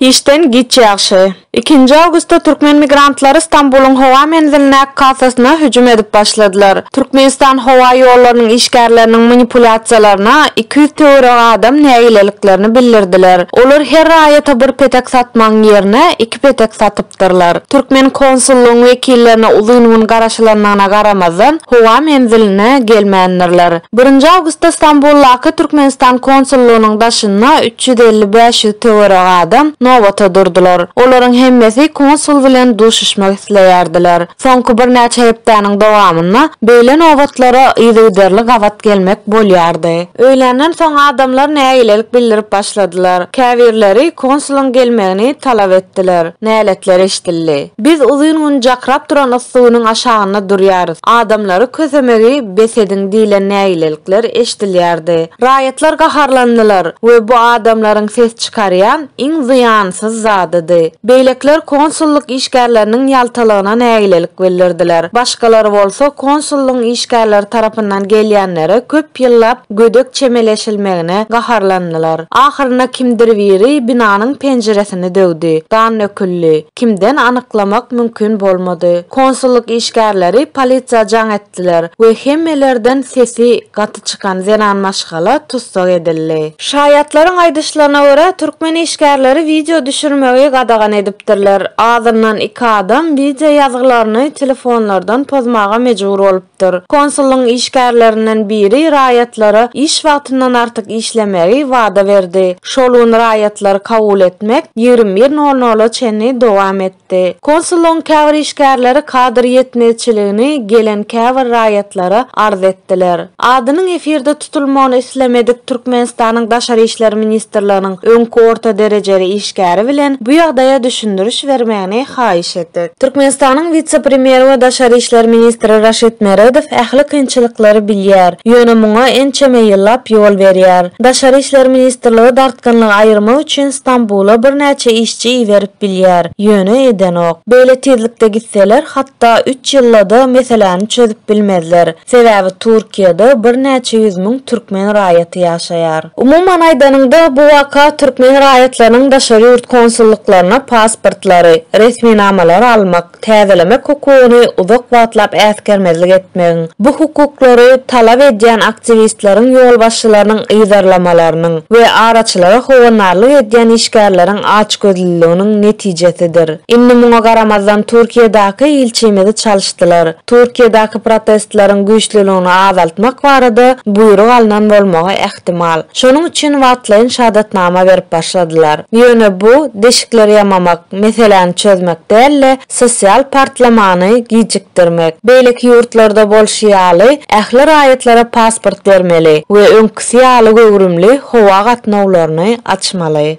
Işden giç ýagşy. Ikinji awgustda türkmen migrantlary Stambulyň howa menzilindäki kassasyna hüjüm edip başladylar. Türkmenistan howa ýollarynyň işgärleriniň manipulýasiýalaryna iki ýüz töweregi adam nägileliklerini bildirdiler. Olar her raýata bir petek satmagyň ýerine iki petek satyp. gatnaşypdyrlar. Türkmen konsullygyň wekillerine uzyn gün garaşylandygyna garamazdan, howa menziline gelmändirler. Birinji awgustda Stambuldaky Türkmenistan konsullygynyň daşynda üç ýüz elli, bäş ýüz töweregi adam nobata durdular. Olaryň hemmesi konsul bilen duşuşmak isleýärdiler. Soňky birnäçe hepdäniň dowamynda beýle nobatlara yzygiderli gabat gelmek bolýardy. Öýländen soň adamlar nägilelik bildirip başladylar. Käbirleri konsulyň gelmegini talap etdiler. Näletler eşidildi. Biz uzyn gün jakrap duran yssy günüň aşagynda durýarys, adamlary kösemegi bes ediň diýlen nägilelikler eşidilýärdi. Raýatlar gaharlandylar we bu adamlaryň ses çykarýan iň zyýansyz zadydy. Beýlekiler konsullyk işgärleriniň ýaltalygyna nägilelik bildirdiler. Başgalar bolsa konsullygyň işgärleri tarapyndan gelýänlere köp ýyllap gödek çemeleşilmegine gaharlandylar. Ahyrynda kimdir biri binanyň penjiresini döwdi. Gan döküldi. Kimden anyklamak mümkin bolmady. Konsullyk işgärleri polisiýa jaň etdiler we hemmelerden sesi gaty çykan zenan maşgala tussag edildi. Şaýatlaryň aýdyşlaryna görä, türkmen işgärleri wideo düşürmegi gadagan edipdirler. Azyndan iki adam wideo ýazgylaryny telefonlardan pozmaga mejbur bolupdyr. Konsullygyň işgärlerinden biri raýatlara iş wagtyndan artyk işlemegi wada berdi. Şol gün raýatlary kabul etmek ýigrimi bir nol nola çenli dowam etdi. etdi. Konsullygyň käbir işgärleri kadr ýetmezçiligini gelen käbir raýatlara arz etdiler. Adynyň efirde tutulmagyny islemedik Türkmenistanyň Daşary işler ministrliginiň öňki orta derejeli işgäri bilen bu ýagdaýa düşündiriş bermegini haýyş etdik. Türkmenistanyň wise-premýeri we daşary işler ministri Raşid Meredow ähli kynçylyklary bilýär, ýöne muňa ençeme ýyllap ýol berýär. Daşary işler ministrligi dartgynlygy aýyrmak üçin Stambula birnäçe işçi çy berip bilýär, ýöne edenok. Beýle tizlikde gitseler hatda üç ýyldada meseläni çözüp bilmezler. Sebäbi Turkiýada birnäçe ýüz müň türkmen raýaty ýaşaýar. Umuman aýdanyňda bu waka türkmen raýatlarynyň daşary ýurt konsullyklaryna pasportlary, resminamalary almak, täzelemek hukugyny uzak wagtlap äsgermezlik etmegiň, bu hukuklary talap edýän aktiwistleriň ýolbaşçylarynyň yzarlamalarynyň we araçylara howandarlyk edýän işgärleriň açgözlüliginiň netijesidir. Indi muňa garamazdan Türkiýedaky ilçimizi çalyşdylar. Türkiýedaky protestleriň güýçlüligini azaltmak barada buýruk alnan bolmagy ähtimal. Şonuň üçin wagtlaýyn şahadatnama berip başladylar. Ýöne bu, deşikleri ýamamak. meseläni çözmek däl-de, sosial partlamany gijikdirmek. Beýleki ýurtlarda bolşy ýaly, ähli raýatlara pasport bermeli we öňküsi ýaly göwrümli howa gatnawlaryny açmaly.